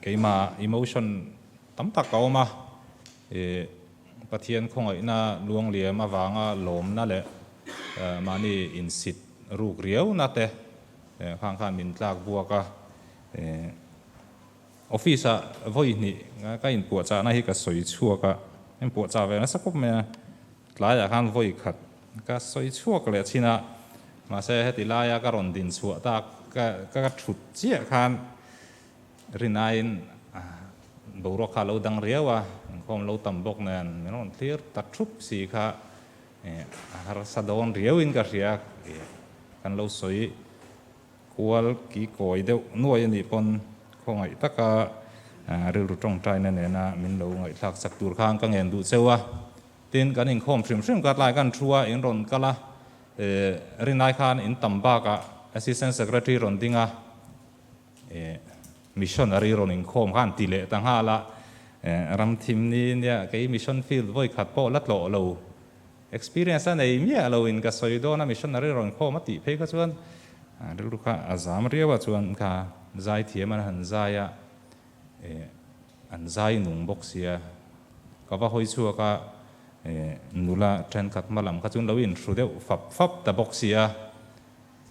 Keimah emotion tam tak a awm a, Pathian khawngaihna luangliam avanga lawmna leh mahni insit ruk riauna te khang khan min tlak buak a, office ah vawihnih ka inpuahchahna hi ka sawi chhuak a, ka inpuahchah ve nasa khawp mai a. Tlaiah khan vawi khat ka sawi chhuak leh chin a, mahse heti laia ka rawn din chhuah ta ka ka thut chiah khan Rinaiin boruak kha alo dang riau a, inkhawm lo tam bawk nen min rawn thlir ta thup si kha a harsa dawn riauin ka hria kan lo sawi kual ki kawi deuh nuai a nih pawn khawngaih taka rilru tawngtaina nena min lo ngaihthlak chak tur khan ka ngen duh cheu a, Tin, kan inkhawm hrim hrim khat lai, kan thu a in rawn kal a, eh, rin lai khan in tam bak ah Assistant Secretary rawn ding a, eh, Missionary rawn inkhawm khan ti leh ta nghal a, eh, ram thim ni nia kei Mission Field vawi khat pawh la tlawh lo, Experience a nei miah lo in ka sawi dawn a, Missionary rawn inkhawm a tih phei kha chuan, rilru kha a zam riau a, chuan kha zai thiam an han zai a, Eh an zai nung bawk sia. Ka va hawi chhuak a, eh nula thenkhat hma lam kha chuan lo in hru deuh fap fap ta bawk sia.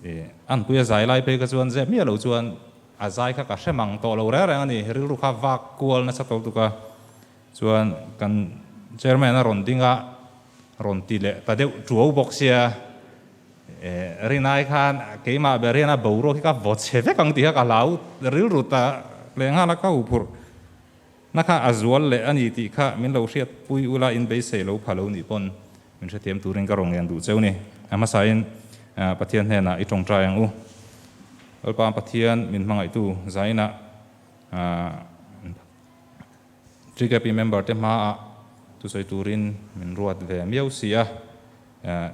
Eh an puia zai lai phei kha chuan zep miah lo chuan a zai kha ka hre mang tawh lo reng reng a ni. Rilru kha vak kual nasa tawh tuk a chuan kan Chairman a rawn ding a, Rawn ti leh ta deuh ṭuau bawk sia. Eh, Rinai khan keimah ber hian a boruak hi ka vaw chhe vek ang tih kha ka hlau rilru ta hle nghal a ka huphurh na kha a zual leh a ni tih kha min lo hriatpui ula in beisei lo pha lo nih pawn min hrethiam turin ka raw ngen duh cheu ni. A hmasain Pathian hnenah i ṭawngṭai ang u. Lalpa Pathian min hmangaihtu zainah ah. Tkp member te hma ah tu sawi tur in min ruat ve miau si a,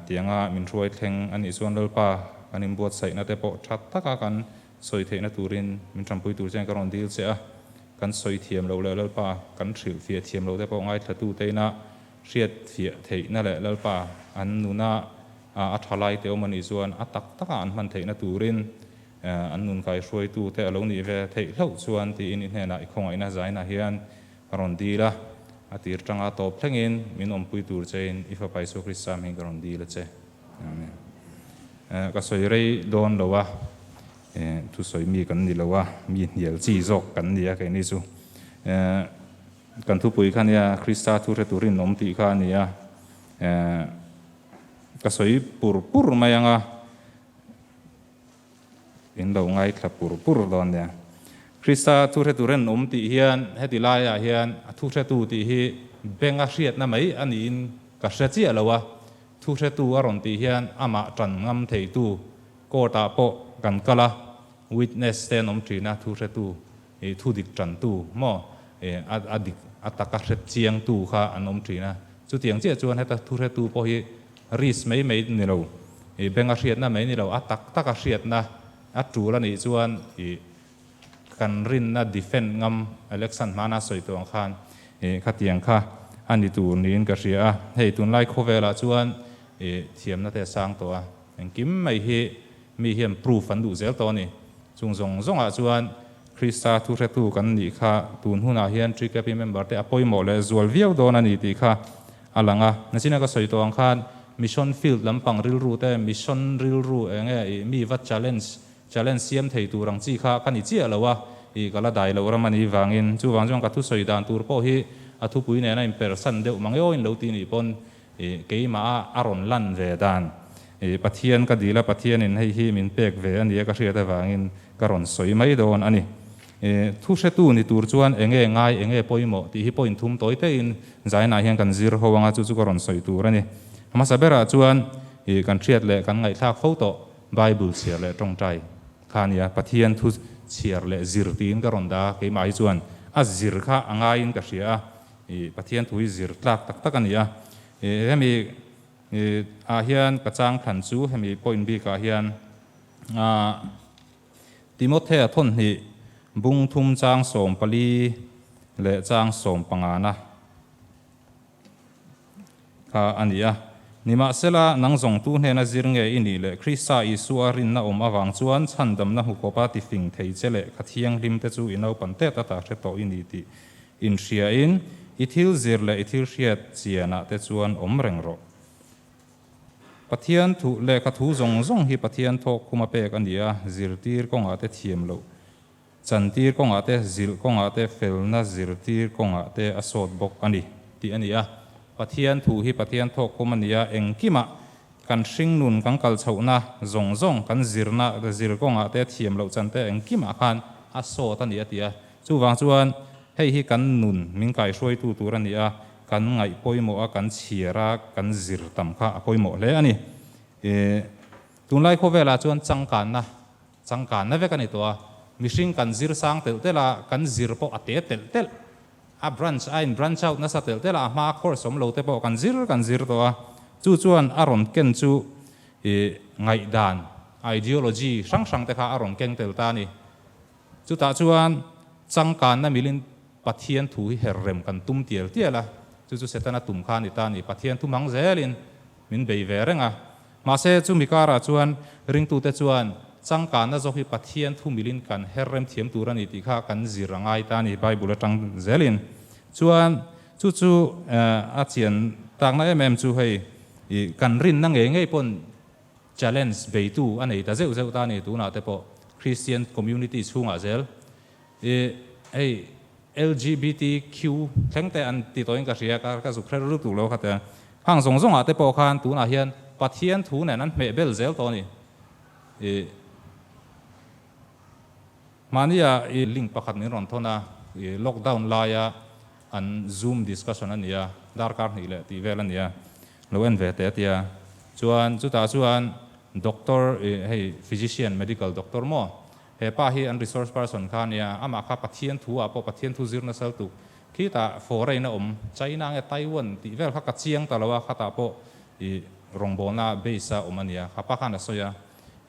tiang a min hruai thleng a nih chuan Lalpa kan in buat saih na te pawh tha tak a kan sawi theih na tur in min tham pui tur chen ka rawn dil che a, kan sawi thiam lo leh Lalpa kan hrilh fiah thiam lo te pawh ngaithla tu te in a hriat fiah theih na leh Lalpa an nuna a tha lai te awm a nih chuan a tak tak a an hman theih na tur in An nun kai hruaitu te a lo nih ve theih hlauh chuan tiin i hnenah i khawngaihna zainah hian ka rawn dil a, a tir tanga tawp thlengin min awmpui tur chein i Fapa Isua Krista mihin ka rawn dil a che. Amen. Ka sawi rei dawn lo a, thu sawi mi kan ni lo a, mi hnial chi zawk kan ni a keini chu. Kan thupui kha nia Krista thu hre tur inawm tih kha a ni a, ka sawi pur pur mai ang a, In lo ngaithla pur pur dawn nia. Krista thuhretu ren awm tih hian heti laiah hian a thuhretu tih hi benga hriatna mai a niin ka hre chiah lo a, thuhretu a rawn tih hian amah tan ngam theitu court-ah pawh kan kal a, witness te an awm thin a, thuhretu I thu dik tantu maw i a dik a tak a hret chiang tu kha an awm thin a, chutiang chiah chuan heta thu hretu pawh hi risk mai mai ni lo i bank a hriatna mai ni lo a tak tak a hriatna a tul a nih chuan i kan rinna defend ngam election hmana sawi tawh ang khan i khatiang kha a ni tur niin ka hria a, hei tunlai khawvelah chuan i thiamna te a sang tawh a. Engkim mai hi mi hian proof an duh zel tawh a ni. Chung zawng zawngah chuan Krista thuhretu kan nih kha tun hunah hian GKP member te a pawimawh leh zual viau dawn a ni tih kha a lang a. Nizina ka sawi tawh ang khan mission field lampang rilru te, mission rilru eng nge ih mi va challenge challenge siam thei tur ang chi kha ka ni chiah lo a, ih ka la dai loh ram a nih vangin. Chuvang chuan ka thusawi dan tur pawh hi a thupui nena inpersan deuh mangeawin lo tih nih pawn Ih, keimah a a rawn lan ve dan. Ih, Pathian ka dil a, Pathianin hei hi min pek ve a ni a ka hriat avangin ka rawn sawi mai dawn a ni. Ih, thu hretu ni tur chuan eng nge ngai, eng nge pawimawh tih hi pawhin thum tawi taiin zainah hian kan zir ho ang a, chu chu ka rawn sawi tur a ni. Hmasa berah chuan, ih, kan hriat leh kan ngaihthlak fo tawh Bible chhiar leh tawngtai kha a ni a, Pathian thu chhiar leh zir tiin ka rawn da. Keimah hi chuan a zir kha a ngaiin ka hria a. I Pathian thu hi zir tlak tak tak a ni a. I hemi ah hian ka chang thlan chu hemi point bik ah hian ah Timothea thawhhnih bung thum chang sawm pali leh chang sawm pangana. kha a ni a. Nimahsela, nang zawngtu hnena zir nge i nih leh Krista Isua rinna awm avang chuan chhandamna hmu khawpa tifing thei che leh kha thianghlim te chu i naupan te ta ta hre tawh i ni tih inhriain i thil zir leh i thil hriat chianah te chuan awm reng rawh. Pathian thuh leh kha thu zawng zawng hi Pathian thawkkhum a pek a ni a, zirtir kawngah te thiam loh Chantir kawngah te, zilh kawngah te, felna zirtir kawngah te a sawt bawk a ni tih a ni a. Pathian thu hi Pathian thawk kum a ni a, engkimah kan hring nun kan kal chhohna zawng zawng kan zirna zir kawngah te thiam loh chan te engkimah khan a sawt a ni a ti a. Chuvang chuan hei hi kan nun min kaihruaitu tur a ni a, kan ngaih pawimawh a, kan chhiar a, kan zir tam kha a pawimawh hle a ni. Tunlai khawvelah chuan changkanna Changkanna vek a ni tawh a, mihring kan zir sang telh telh a, kan zir pawh a te telh telh. A branch a in branch out nasa telh telh a, a hmaa course awm lo te pawh kan zir kan zir tawh a, chu chuan a rawn ken chu ih ngaihdan, ideology, hrang hrang te kha a rawn keng tel ta a ni. Chutah chuan changkanna milin Pathian thu hi her rem kan tum tial tial a, chu chu Setana tum kha a ni ta a ni, Pathian thu mang zelin, Min bei ve reng a. Mahse, chu mi karah chuan ringtute chuan changkanna zawk hi Pathian thu milhin kan her rem thiam tur a ni tih kha kan zir a ngai ta a ni Bible atang zelin. Chuan chu chu a chian takna em em chu hei kan rinna ngei ngei pawn challenge beitu a nei ta zeuh zeuh ta a ni. Tunah te pawh Christian community chhungah zel. I hei LGBTQ thlengte an ti tawhin ka hria, ka ka zuk hre lut lut lo kha tia. Hang zawng zawngah te pawh khan tunah hian Pathian thu nen an hmeh bel zel tawh a ni. I hmania i link pakhat min rawn thawn a, i lockdown laia an zoom discussion a nia, darkar hnih leh tih vel a nia, lo en ve teh a tia. Chuan chutah chuan doctor i hei physician medical doctor maw He pa hi an resource person kha a nia, amah kha Pathian thu ah pawh Pathian thu zir nasal tuk khitah fawrain a awm. China nge Taiwan tih vel kha ka chiang ta lo a, khatah pawh i rawngbawlna base a awm a nia, a pa khan a sawi a,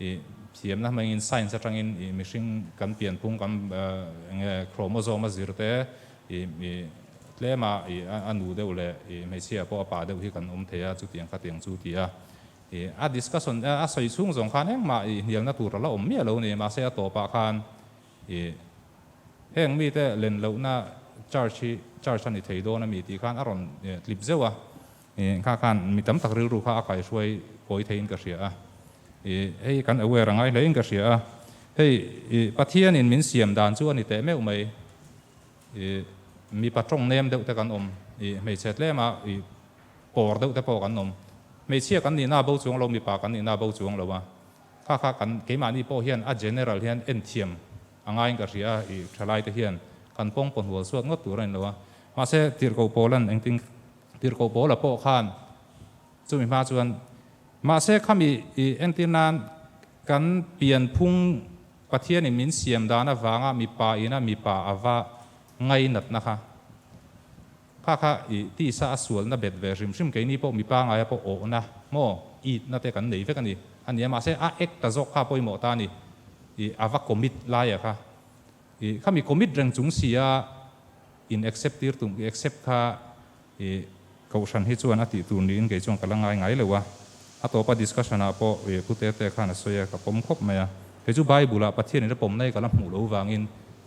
i thiamna hmangin science atangin i mihring kan pianpung kan nge chromosome a zir te i i tlema i a nu deuh leh i hmeichhia pawh a pa deuh hi kan awm thei a, chutiang khatiang chu ti a. A discussion a sawi chhung zawng khan engmah hnialna tur ala awm miah lo ni, mahse a tawpah khan heng mite len lohna church hi church a ni thei dawn a mi tih khan a rawn tlip zeuh a, engkha khan mi tam tak rilru kha a kaihruai pawi thei in ka hria a, hei kan aware a ngai hle in ka hria a, hei Pathianin min siam dan chu a ni teh meuh mai. I mipa tawng nem deuh te kan awm, i hmeichhe tlem a i pawr deuh te pawh kan awm. Hmeichhia kan nihna bo chuang lo, mipa kan nihna bo chuang lo a, kha kha kan keimahni pawh hian a general hian enthiam a ngaiin ka hria a, i thalai te hian kan pawng pawh hnual suat ngawt tur a ni lo a. Mahse, tirhkoh pawl an engtin, tirhkoh pawla pawh khan. Chumi hma chuan, mahse khami i entir nan kan pianphung Pathianin min siam dan avanga mipa ina mipa a va ngai natna kha kha kha i tisa a sualna bet ve hrim hrim keini pawh mi pangaia pawh awhna maw itna te kan nei vek a ni a nia mahse a ek ta zawk kha pawimawh ta ni i a va commit laia kha Ih khami commit reng chung si a in accept tir tum i accept kha ih Kohhran hi chuan a tih tur niin kei chuan ka la ngai ngai lo a. A tawpa discussion ah pawh ih pu te te khan a sawi a, ka pawm khawp mai a. Kei chu Bible ah Pathian in la pawm nai ka la hmuh lo vangin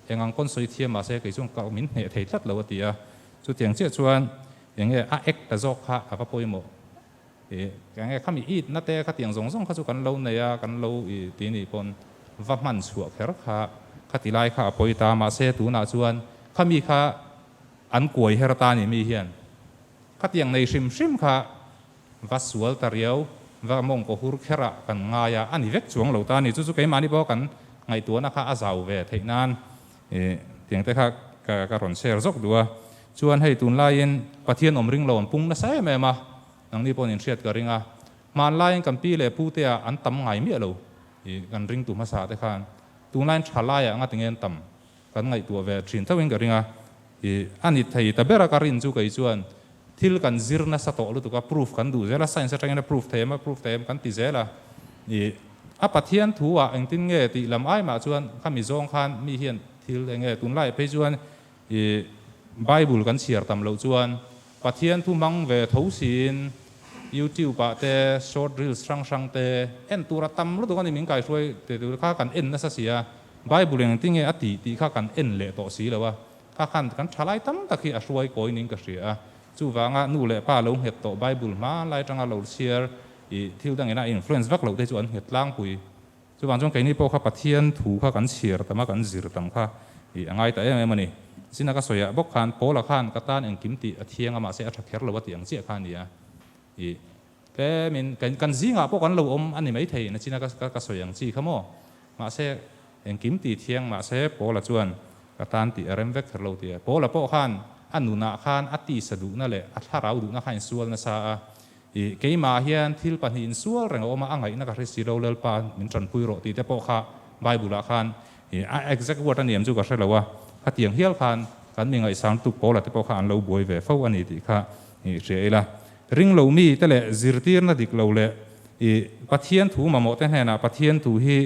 eng ang pawn sawi thiam mahse kei chuan ka min hneh thei tlat lo a ti a. Chutiang chiah chuan eng nge a act ta zawk kha a va pawimawh. I, eng nge khami it na te khatiang zawng zawng kha chu kan lo nei a, kan lo i ti nih pawn va hman chhuah kher kha. Khati lai kha a pawi ta, mahse tunah chuan khami kha an kuai her ta nih mi hian khatiang nei hrim hrim kha va sual ta riau, va mawng kohur kher ah kan ngai a, a ni vek chuang lo ta ni. Chu chu keimahni pawh kan ngaihtuahna kha a zau ve theih nan Eh, tiang te kha ka ka rawn share zawk duh a, chuan hei tunlaiin Pathian awm ringlo an pung nasa em em a, nangni pawhin in hriat ka ring a, hmaan laiin kan pi leh pu tea an tam ngai miah lo, ih kan ring tu hmasa te khan tunlaiin tha laiah ngatinge an tam kan ngaihtuah ve thin theuhin ka ring a, I a ni thei ta ber a ka rin chu kei chuan thil kan zir nasa tawh lutuk a proof kan duh zel a science atangin a proof thei em a proof thei em kan ti zel a i a Pathian thu ah engtin nge tih lam ai mah chuan kha mi zawng khan mi hian thil enge tunlai phei chuan i bible kan chhiar tam loh chuan Pathian thu hmang ve tho siin YouTube ah te short reels hrang hrang te en tur a tam lutuk a ni min kaihruai te tur kha kan en nasa si a, Bible eng tinge a tih tih kha kan en leh tawh si lo a, kha khan kan tha lai tam tak hi a hruai kawi ning ka hria a, chuvanga nu leh pa lo nghet tawh Bible hma lai tanga lo chhiar ih thil dangin a influence vak lo te chu an nghet tlangpui. Chuvang chuan keini pawh kha Pathian thu kha kan chhiar tam a, kan zir tam kha ih a ngai ta em em a ni. Zina ka sawiah bawk khan Paula khan ka tan engkim tih a thiang a, mahse a tha kher lo a tih ang chiah kha a nia. Ih tlemin kan zingah pawh kan lo awm a ni maithei ina Zina ka ka sawi ang chi kha maw. Mahse engkim ti thiang mahse Paula chuan ka tan tih a rem vek ther lo ti a. Paula pawh khan a nunah khan a tisa duhna leh a thlarau duhna kha a insual nasa a. I, keimah hian thil pahnih insual reng a awm a, a ngaihna ka hre si lo, Lalpa min tanpui rawh tih te pawh kha Bible ah khan i a exact word a ni em chu ka hre lo a, khatiang hial khan kan mi ngaihsam lutuk pawl ah te pawh kha an lo buai ve fo a ni tih kha i hria ila. Ring lo mi te leh zirtirna dik lo leh i Pathian thu mamawh te hnenah Pathian thu hi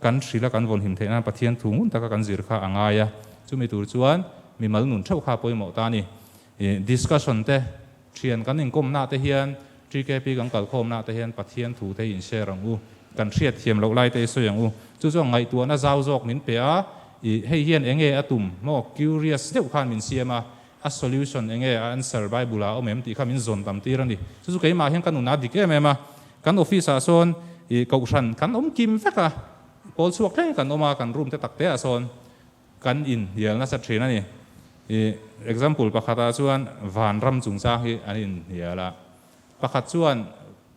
kan hrilh a kan vawn him theih nan Pathian thu ngun taka kan zir kha a ngai a, chumi tur chuan mimal nun theuh kha pawimawh ta a ni. Discussion te, thian kan inkawmna te hian GKP kan kalkhawmna te hian Pathian thu te hi inshare ang u, kan hriatthiam loh lai te hi sawi ang u. Chu chuan ngaihtuahna zau zawk min pe a, ih hei hian eng nge a tum maw curious deuh khan min siam a, a solution eng nge a answer Bible ah awm em tih kha min zawn tam tir a ni. Chu chu keimah hian ka nun a dik em em a, kan office ah sawn ih kohhran kan awm kim vek a, kawl chhuak thleng kan awm a, kan room te tak te ah sawn. Kan inhnial nasa thin a ni. I example pakhatah chuan van ram chungchang hi an inhnial a, pakhat chuan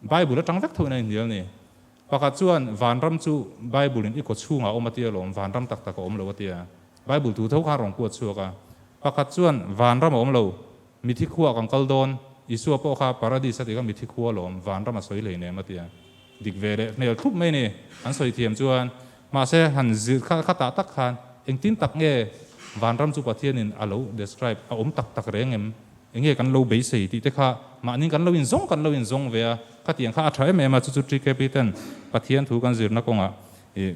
Bible atang vek thoin a inhnial a ni. Pakhat chuan van ram chu Bible-in i kawchhungah awm ati alawm, van ram tak tak a awm lo a tia. Bible tu tho khan a rawn kuat chhuak a. Pakhat chuan van ram a awm lo, Mithi khuaa kan kal dawn, Isua pawh kha Paradis a tika mithi khua lawm vanram a sawi hleinem a tia dik ve leh hmel thup mai ni an sawi thiam chuan mahse han zir kha kha tah tak khan engtin tak nge vanram chu Pathianin a lo describe a awm tak tak reng em? Enge kan lo beisei tih te kha mahni kan lo inzawng kan lo inzawng ve a, khatiang kha a tha em em a chu chu Trikep hi ten Pathian thu kan zirna kawngah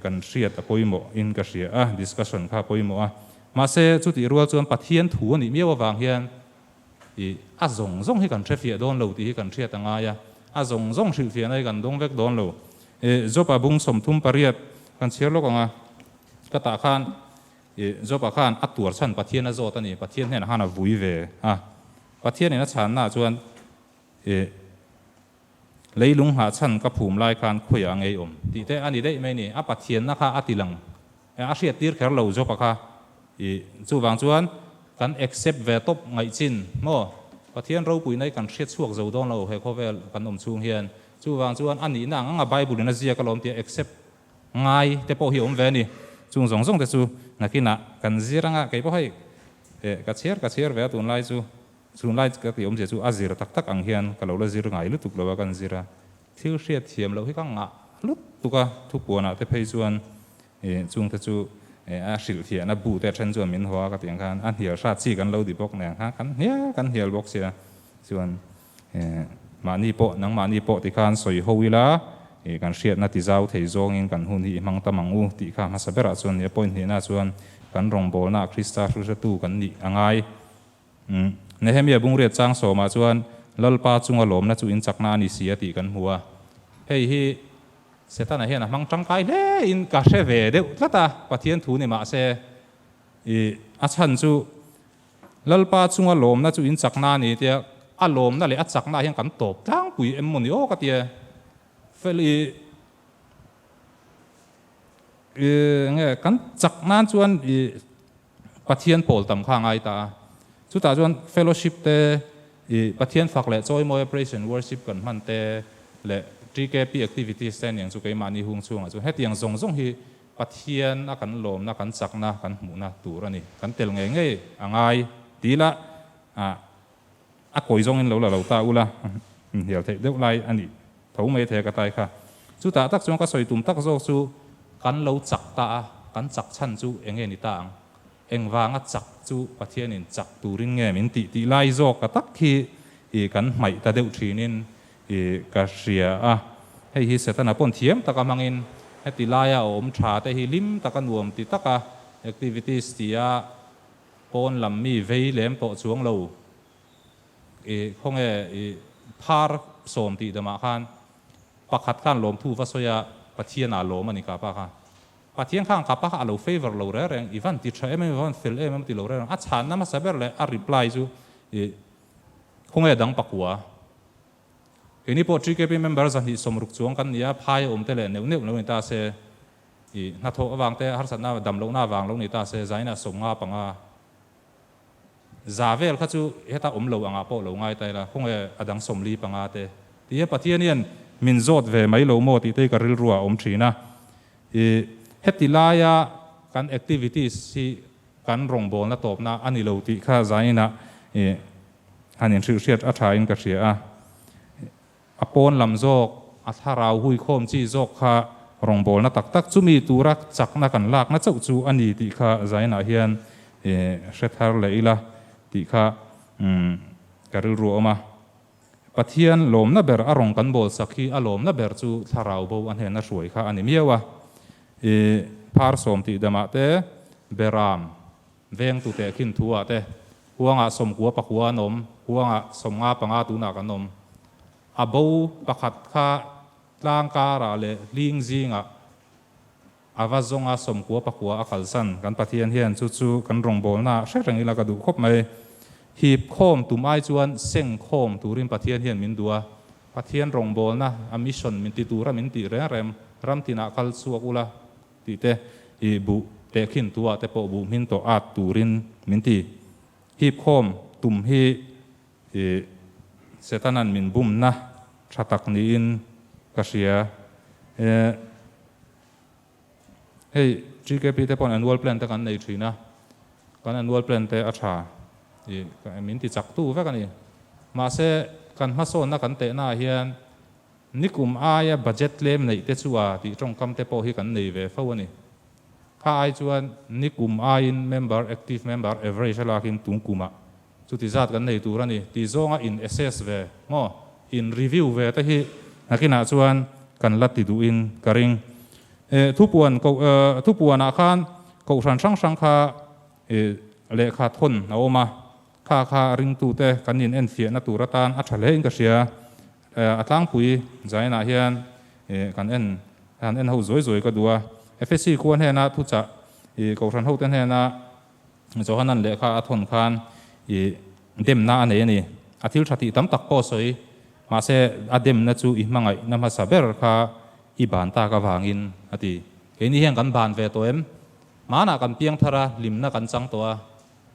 kan hriat a pawimawh in ka hria a, discussion kha a pawimawh a. Mahse, chutih rual chuan Pathian thu a nih miau avang hian ih a zawng zawng hi kan hrefiah dawn lo tih hi kan hriat a ngai a, a zawng zawng hrilhfiah na hi kan dawng vek dawn lo. Ih Job a bung sawmthum pariat kan chhiar lawk ang a, ka tah khan ih Job-a khan a tuar chhan Pathian a zawt a ni, Pathian hnenah khan a vui ve a, Pathianin a chhannaah chuan ih Leilung hnah chhan ka phum lai khan khawiah a ngeiawm tih te a ni daih mai ni. A Pathianna kha a tilang eh a hriat tir kher lo zawka kha i chuvang chuan kan accept ve tawp ngaih chin maw? Pathian ropuina hi kan hria chhuak zo dawn lo he khawvel kan awm chhung hian. Chuvang chuan a nihna ang anga Bible-in a ziak alawm tia accept ngai te pawh hi a awm ve a ni. Chung zawng zawng te chu nakinah kan zir anga kei pawh hei eh ka chhiar ka chhiar ve a tunlai chu Chhun lai ka ti awmzia chu a zir tak tak ang hian ka lo la zir ngai lutuk lo a kan zir a, thil hriat thiam loh hi ka ngah lutuk a, thupuanah te phei chuan ih chung te chu eh a hrilh thiah na bu te a then chuan min haw a ka ti ang khan a hnial hrat chi kan lo di bawk nen ang khan kan hnial kan hnial bawk sia chuan eh mahni pawh nangmahni pawh ti khan sawi ho ila ih kan hriat na ti zau thei zawng in kan hun hi i hmang ta mang u tih kha hmasa berah chuan nia point hnih na chuan kan rawngbawlna a Krista hrilhhratu kan nih a ngai Umm. Nehemia bungriat chang sawmah chuan Lalpa chunga lawmna chu inchakna a ni si a tih kan hmu a. Hei hi Setana hian a hmang tangkai hle in ka hre ve deuh tlat a, Pathian thu ni mah se i a chhan chu Lalpa chunga lawmna chu inchakna a ni tia a lawmna leh a chakna hian kan tawp tlangpui em maw ni aw ka ti a. Fel i i nge kan chak nan chuan i. Pathian pawl tam kha a ngai ta a. Chutah chuan fellowship te, i Pathian fak leh chawi mawia praise and worship kan hman te leh TKP activities te aniang chu keimahni hung chhungah chuan hetiang zawng zawng hi Pathian a kan lawmna, kan chakna, kan hmuhna tur a ni. Kan tel ngei ngei a ngai. Ti ila, ah, A kawi zawngin lo la lo ta ula, min hnial theih deuh lai a ni tho mai the ka tai kha. Chutah tak chuan ka sawi tum tak zawk chu kan lo chak ta a, kan chak chhan chu eng nge ni ta ang? Engvanga chak chu Pathianin chak turin nge min tih tih lai zawk a tak hi i kan hmaih ta deuh thinin i ka hria a. Hei hi Setana pawn thiam taka hmangin heti laia a awm tha te hi hlim taka nuam ti taka activities tia, Pawn lam mi vei lem tawh chuang lo i khawnge i phar sawm tih damah khan pakhat khan lawmthu va sawi a, Pathian a lawm a ni kapa kha. Pathian khan kapa kha a lo favour lo reng reng, i van ti tha em em, i van fel em em ti lo reng reng. A chhanna hmasa ber leh a reply chu i khawnge dang pakua, Keini pawh TKP member zahnih sawm ruk chuang kan ni a, phai a awm te leh neuh neuh lo ni ta se. I hnathawh avang te harsatna a dam lohna avang lo ni ta se zaina sawm nga panga za vel kha chu heta awm lo angah pawh lo ngai ta ila khawnge a dang sawm li panga te ti a Pathian hian min zawt ve mai lo maw tih te i ka rilru ah a awm thin a I heti laia kan activities hi kan rawngbawlna tawpna a ni lo tih kha zaina i han inhrilhriat a tha in ka hria a. A pawn lam zawk, a thlarau hui khawm chi zawk kha rawngbawlna tak tak chumi tura chakna kan lakna chauh chu a ni tih kha Zainah hian i hre thar leh ila tih kha ka rilru awm a. Pathian lawmna ber a rawn kan bawlsak hi a lawmna ber chu thlarau bo a hnena hruai kha a ni miau a. I phar sawm tih demah te, Beram, Veng tu teh khin thu ah te huanga sawm kua pakua an awm, huanga sawm nga panga tun ah kan awm. A bo pakhat kha tlang kar ah leh hling zing ah a va zawng a sawm kua pakua a kalsan. Kan Pathian hian chu chu kan rawngbâwl na hre reng ila ka duh khawp mai. Hip khawm tum ai chuan seng khawm tur in Pathian hian min duh a, Pathian rawngbâwl na a mission min ti tur a min tih reng reng. Ram tin ah kal chhuak ula Tih te, i buh teh khin tua te pawh buh hming tawh at turin min ti. Hip khawm tum hi i Setana'n min bumna tha tak niin ka hria. Ehh, hei GKP te paw'n annual plan te kan nei thin a, kan annual plan te a tha i min ti chak tu vek a ni. Mahse, kan hmasawnna kan tehnaah hian Ni kum aia budget tlem neih te chu a tih tawngkam te pawh hi kan nei ve fo a ni. Kha ai chuan ni kum aiin member, active member, average a lakin tum kumah chuti zat kan nei tur a ni. Ti zawnga in assess ve maw in review ve te hi hnakinah chuan kan la ti duhin ka ring. Eh thupuan ko eh thupuanah khan kohhran hrang hrang kha eh lehkha thawn a awm a. Kha kha a ringtute kan in enfiahna tur atan a tha hlein ka hria. A tlangpui zainah hian kan en han en ho zawi zawi ka duh a. Efesi khua hnena thuchah kohhran hote hnena Johanan lehkha a thawn khan demna a nei a ni. A thil tha tih tam tak pawh a sawi. Mahse a demna chu i hmangaihna hmasa ber kha i ban tak avangin a ti. Keini hian kan ban ve tawh em? Hmanah kan piang thar a, hlimna kan chang tawh a.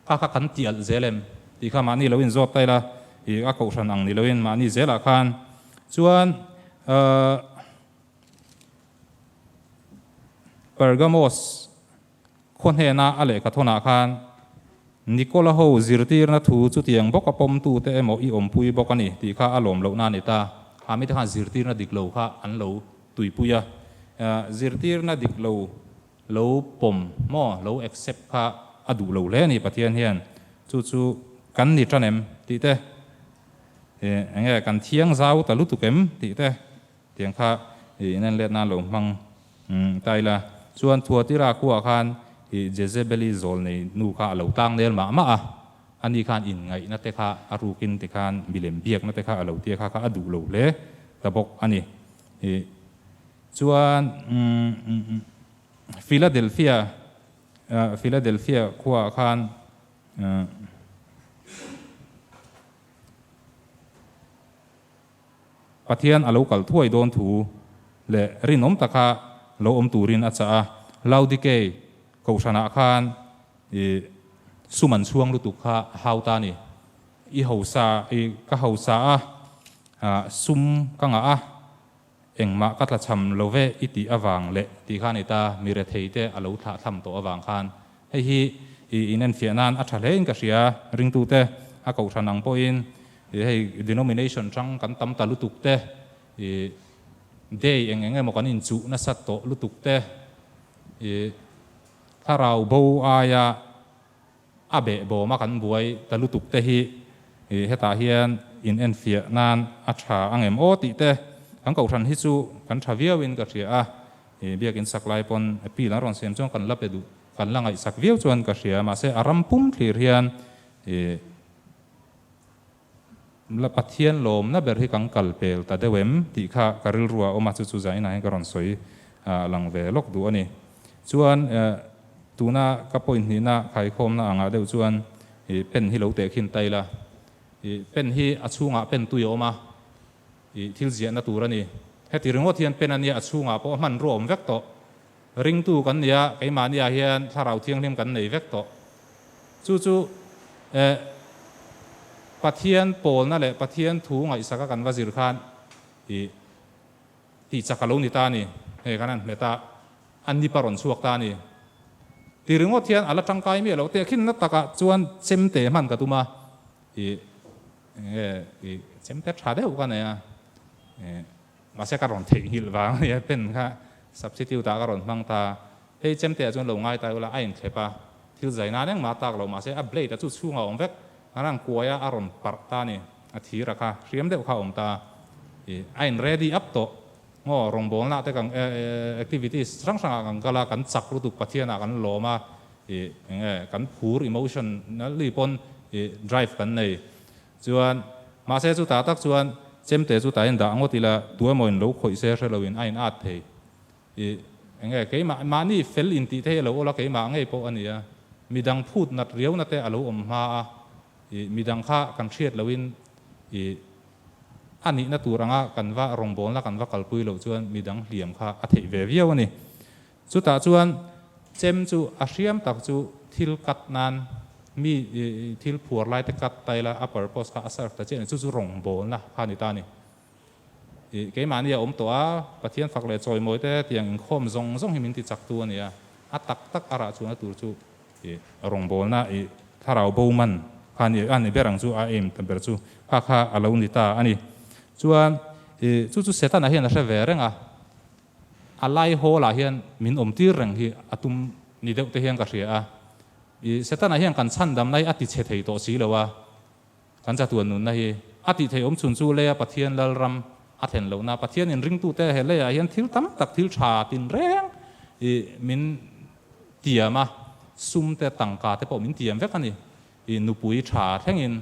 Kha kha kan ti alh zel em? Tih kha mahni lo in zawt ta ila i a kohhran ang ni loin mahni zel ah khan chuan uh Pergamos khaw hnena a lehkha thawn ah khan Nikola ho zirtirna thu chutiang bawk a pawm tu te emaw i awmpui bawk a ni tih kha a lawm loh na a ni ta. A mite khan zirtirna dik lo kha an lo tuipui a, uh zirtirna dik lo lo pawm maw lo accept kha a duh lo hle a ni Pathian hian chu chu kan ni tan em tih te ih eng nge kan thiang zau ta lutuk em tih te tiang kha ih in en let nan lo hmang ta ila chuan Thuatira khuaah khan ih Jezebeli zawl nei nu kha a lo tlang nel mah mah a, a ni khan in ngaih na te kha a ruk in ti khan milem biak na te kha a lo tia kha kha a duh lo hle ta bawk a ni ih. Chuan Philadelphia Philadelphia khuaah khan Pathian a lo kal thuai dawn thu leh rinawm taka lo awm turin a chah a. Laodikei Kohhranah khan i sum an chhuang lutuk kha a hau ta a ni. I hausa i ka hausa a, sum ka ngah a, Engmah ka tlachham lo ve i tih avang leh tih khan i ta, mi rethei te a lo thlah thlam tawh avang khan hei hi i in enfiah nan a tha hle in ka hria. Ringtu te a kohhran ang pawh in i hei denomination chang kan tam ta lutuk te, i day eng eng emaw kan in chuh nasat tawh lutuk te, i thlarau bo aia, A beh bawm a kan buai ta lutuk te hi ih hetah hian in en fiah nan a tha ang em aw tih te kan kohhran hi chu kan tha viau in ka hria a, ih biak in sak lai pawn appeal an rawn siam chuan kan la pe duh kan la ngaihsak viau chuan ka hria mahse a ram pum thlir hian ih. La Pathian lawmna ber hi kan kal pel ta deuh em? tih kha ka rilru a awm a, chu chu zainah hian ka rawn sawi a lang ve lawk duh a ni. Chuan tuna ka point hnihna khaikhawmna ang ah deuh chuan i pen hi lo tehkhin ta ila, i pen hi a chhungah pen tui a awm a, i thil ziahna tur a ni. Heti ringawt hian pen a nia a chhungah pawh hman rawh awm vek tawh. Ringtu kan ni a, keimahniah hian Thlarau Thianghlim kan nei vek tawh. Chu chu eh Pathian pawlna leh Pathian thu ngaihsaka kan va zir khan ih tihchak a lo ni ta a ni, hei kan han hmet a, a nip a rawn chhuak ta a ni ti ringawt hian a la tangkai miah lo. Tehkhinna takah chuan chemte hman ka tum a, ih enge ih chemte tha deuh ka nei a, ih. Mahse ka rawn theih nghilh vang a ni a, pen kha substitute ah ka rawn hmang ta a, hei Chemte-ah chuan lo ngai ta i ula, a inthlep a, thil zai nan engmah a tak lo, mahse a blade-a chu chhungah awm vek, ngaran kuaia a rawn parh ta a ni, a thira kha hriam deuh kha a awm ta a, ih, a in ready up tawh, ngaw, rawngbawlna te kan activities hrang hrang ah kan kal a, kan chak lutuk Pathianah kan lawm a, ih, eng nge, kan phur emotionally pawn ih drive kan nei. Chuan, mahse chu tah tak chuan chemte chu tain dah ngawt ila, tua emaw in lo khawih se hre lo in a in at thei i, enge keimah mahni fel in tih thei a lo awla keimah ngei pawh a nia, midang phut nat riau na te a lo awm hma a i, midang kha kan hriat lo in i, a nihna tur anga kan va rawngbawlna kan va kalpui loh chuan midang hliam kha a theih ve viau a ni. Chutah chuan chem chu a hriam tak chu thil cut nan mi thil phuar lai te cut ta ila a purpose kha a serve ta chiah a ni chu chu rawngbawlna kha a ni ta a ni. Ih keimahni a awm tawh a, Pathian fak leh chawimawi te tiang inkhawm zawng zawng hi min ti chak tu a ni a, a tak tak a rah chuang na tur chu ih rawngbawlna ih thlarau bo man kha ni a ni ber ang chu a aim ta ber chu kha kha a lo ni ta a ni. Chuan ih chu chu Setana hian a hre ve reng a. A lai hawlah hian min awm tir reng hi a tum ni deuh te hian ka hria a, i Setana hian kan chhandam lai a ti chhe thei tawh si lo a, kan chatuan nunna hi a tih theih awm chhun chu leia Pathian Lalram a thlen lohna, Pathian inringtu te he leiah hian thil tam tak thil tha tin reng i min tiam a, sum te tangka te pawh min tiam vek a ni. I nupui tha thlengin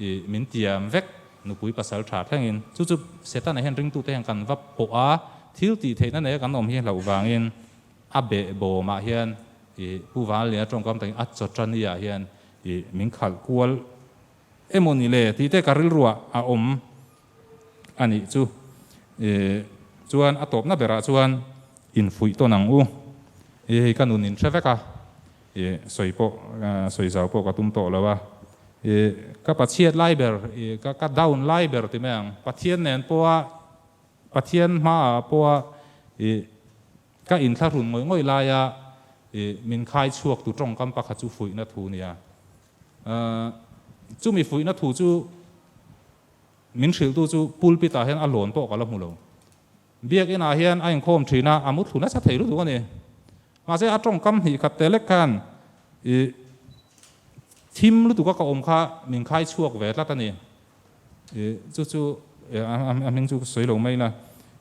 I min tiam vek nupui pasal tha thlengin chu chu setana hian ringtute hian kan va pawh a thil tih theihna neia kan awm hi hloh vangin a beh bawm ah hian I Pu Vanliana tawngkam takin a chaw tani ah hian I min khalh kual emaw nile tih te ka rilru ah a awm a nih chu e chuan a tawpna berah chuan infuih tawn ang u e hei ka nun in hre vek a e sawi pawh sawi zau pawh ka tum tawh lo a e ka pa chhiat lai ber e ka ka down lai ber ti mai ang pathian nen pawha pathian hma ah pawha e ka in thlahrun ngawih ngawih lai a e min khai chhuak tu tawngkam pakhat chu fuihna thu nia a chumi fuihna thu chu Min hrilhtu chu pulpit ah hian a lawn pawh ka la hmu lo. Biakinn ah hian a inkhawm thin a, a mutthu nasa thei lutuk a ni. Mahse, a tawngkam hnikkhat teh lek khan i thim lutuk a ka awm kha min khai chhuak ve tlat a ni. I chu chu a hming chu ka sawi lo mai ila.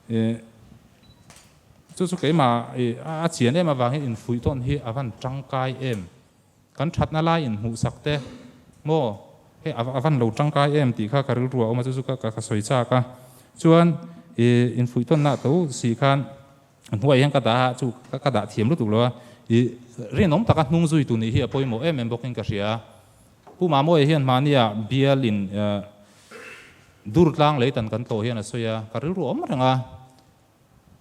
I chu chu keimah i a chian em avangin infuih tawn hi a van tangkai em. Kan thatna lai inhmuhsak te maw? Hei a a van lo tangkai em tih kha ka rilru a awm a, chu chu ka ka sawi chak a. Chuan i infuihtawnna to si khan a hnuaiah hian ka dah a, chu ka ka dah thiam lutuk lo a. I rinawm taka hnung zui tu nih hi a pawimawh em em bawkin ka hria a. Pu Mamawia hian hmania bial in dur tlang lei tan kan tlawh hian a sawi a, ka rilru awm reng a.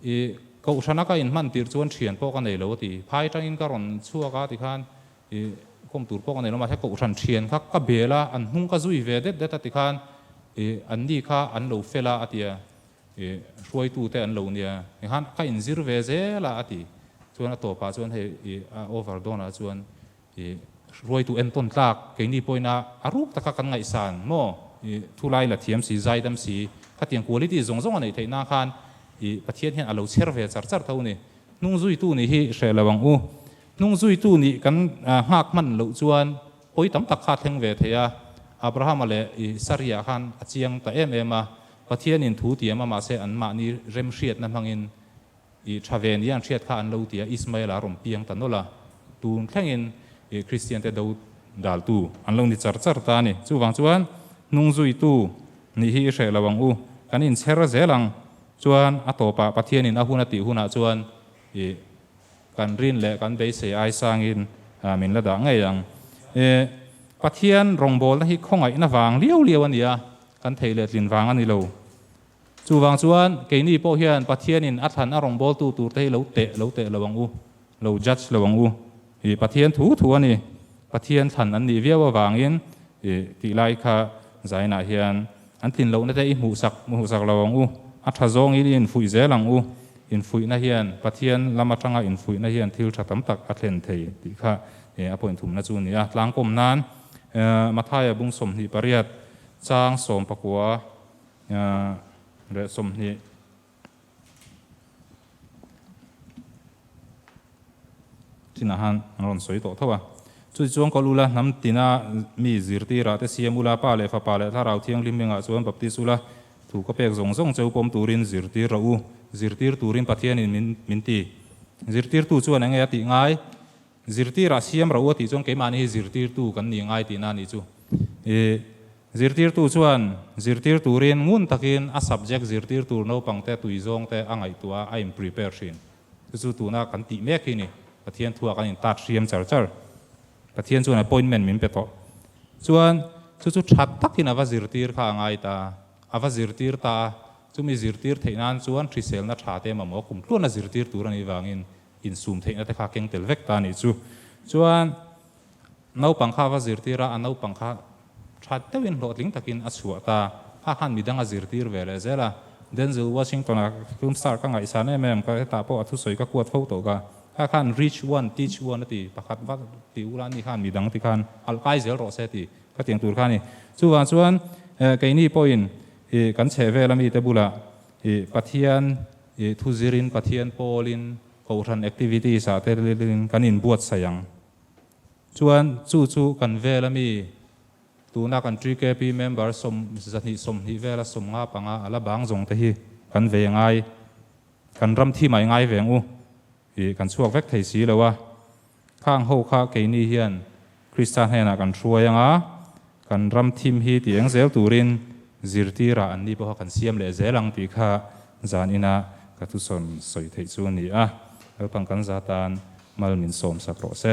I Kohhrana ka inhman tirh chuan thian pawh ka nei lo a ti. Phai tangin ka rawn chhuak a tikhan i khawm tur pawh ka nei lo mahse Kohhran thian kha ka bel a, an hnung ka zui ve det det a tikhan i an ni kha an lo fel a a ti a, i hruaitu te an lo nia tikhan ka inzir ve zel a a ti. Chuan a tawpah chuan hei i a over dawn ah chuan I hruaitu entawn tlak keini pawhin a a ruk taka kan ngaihsan maw I thu lai la thiam si zai dam si khatiang quality zawng zawng a neih theih na khan I Pathian hian a lo chher ve char char tho ni hnung zui tu nih hi hreh lo ang u hnung zui tu nih kan nghak hman loh chuan hawi tam tak kha a thleng ve thei a Abraham a leh I Saria khan a chiang ta em em a Pathian in thu tiam a mahse an mahni rem hriat na hmang in Ih tha ve nia an hriat kha an lo ti a, Ismail a rawn piang ta nawlh a, tun thlengin ih Kristian te do dal tu an lo ni char char ta a ni. Chuvang chuan hnung zui tu nih hi i hreh lo ang u, kan in chher zel ang chuan a tawpah Pathianin a hun a tih hunah chuan ih kan rin leh kan beisei aisangin min la dah ngei ang. Ih Pathian rawngbawlna hi khawngaihna vang liau liau a nia, kan thei leh tlin vang a ni lo. Chuvang chuan keini pawh hian Pathianin a thlan a rawngbawltu turte hi lo teh lo teh lo ang u, lo judge lo ang u. Ih Pathian thu thu a ni. Pathian thlan an nih viau avangin ih tihlai kha zainah hian an tlin lohna te i hmuhsak i hmuhsak lo ang u. A tha zawngin i infuih zel ang u. Infuihna hian Pathian lam atanga infuihna hian thil tha tam tak a thlen thei tih kha ih a point thumna chu a ni a. Tlangkawm nan Mathaia bung sawmhnih pariat chang sawmpakua, Nia leh sawmhnih chinah han an rawn sawi tawh tho a. Chuti chuan kawl ula hnam tina mi zirtirah te siam ula pa leh fapa leh Thlarau Thianghlim mingah chuan baptist ula thu ka pek zawng zawng cheu pawm turin zirtir rawh u, zirtir turin Pathianin min min ti. Zirtirtu chuan enge a tih ngai? Zirtirah siam rauh a tih chuan keimahni hi zirtirtu kan ni ngai tihna a nih chu i. Zirtirtu chuan zirtir turin ngun takin a subject zirtir tur naupangte tui zawngte a ngaihtuah a, a inprepare thin. Chu chu tuna kan tih mek hi ni. Pathian thua kan intat hriam char char. Pathian chuan appointment min pe tawh. Chuan chu chu tha takin a va zirtir kha a ngai ta a, a va zirtir ta a. Chumi zirtir theih nan chuan hriselna thate mamawh a kum tluan a zirtir tur a nih vangin Insum theihna te kha keng tel vek ta nih chu. Chuan naupang kha va zirtir a, a naupang kha tha deuh in hlawhtling tak in a chhuah ta. A khan midang a zirtir ve leh zel a. Denzel Washington a film star ka ngaihsan em em, ka hetah pawh a thusawi ka kuat fo tawh ka. Kha khan reach one, teach one a ti, pakhat va ti ula ni khan midang ti khan alh kai zel rawh se tih ka tiang tur kha a ni. Chuvang chuan keini pawhin kan chhehvel a mite bulah Pathian, I thu zir in Pathian Paul in Kohhran activities ah te rilin kan in buatsaih ang. Chuan chu chu kan vel a mi tuna kan GKP member sawm zahnih sawmhnih vel a sawm nga panga a la bang zawng te hi kan ve ngai kan ram thim ai ngai veng u. Tih kan chhuak vek thei si lo a, khang ho kha keini hian Krista hnenah kan hruai anga kan ram thim hi ti eng zel turin zirtirah an ni pawh kha kan siam leh zel ang tih kha zan ina ka thusawn sawi theih chu a ni a, kalpang kan za tan mal min sawmsak rawh se.